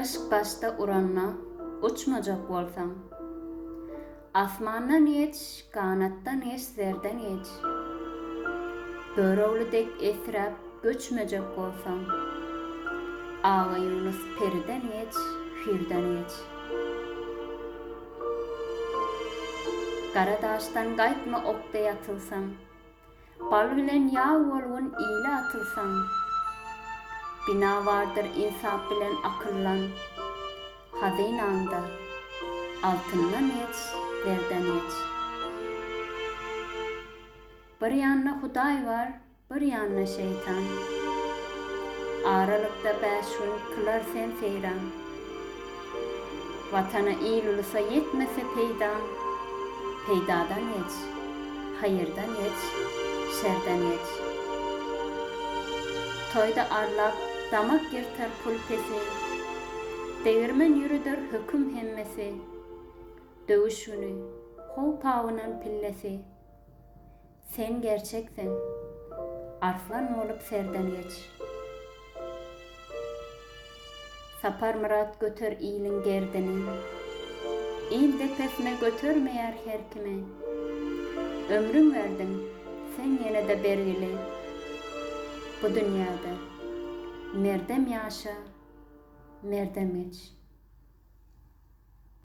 Yşk başda uranda, uçmajak bolsaň. Asmandan geç, ganatdan geç, zerden geç. Börüwli dek esräp, göçmejek bolsaň. Aga Ýunus periden geç, pirden geç. Gara daşdan gaýtma okda ýatylsaň. Bal bilen ýag bolgun ile atylsaň. Bina bardyr ynsap bilen akyldan. Hazynaňda altyndan geç, zerden geç. Bir ýanda Hudaý bar, bir ýanda şeýtan. Aralykda bäş gün kylar sen seýran. Watana il-ulusa ýetmese peýdaň, Peýdadan geç, haýyrdan geç, şerden geç. Toýda arlap, damak ýyrtar pul pesi, Degirmen ýürüder höküm hemmesi. Döwüş güni, how-pawynan pillesi, Sen gerçekseň, arslan bolup serden geç. Saparmyrat göter iliň gerdini. Il depesine götermeýär her kimi. Ömrüň berdiň, sen ýene-de bergili. Bu dünýäde merdem ýaşa, merdem geç.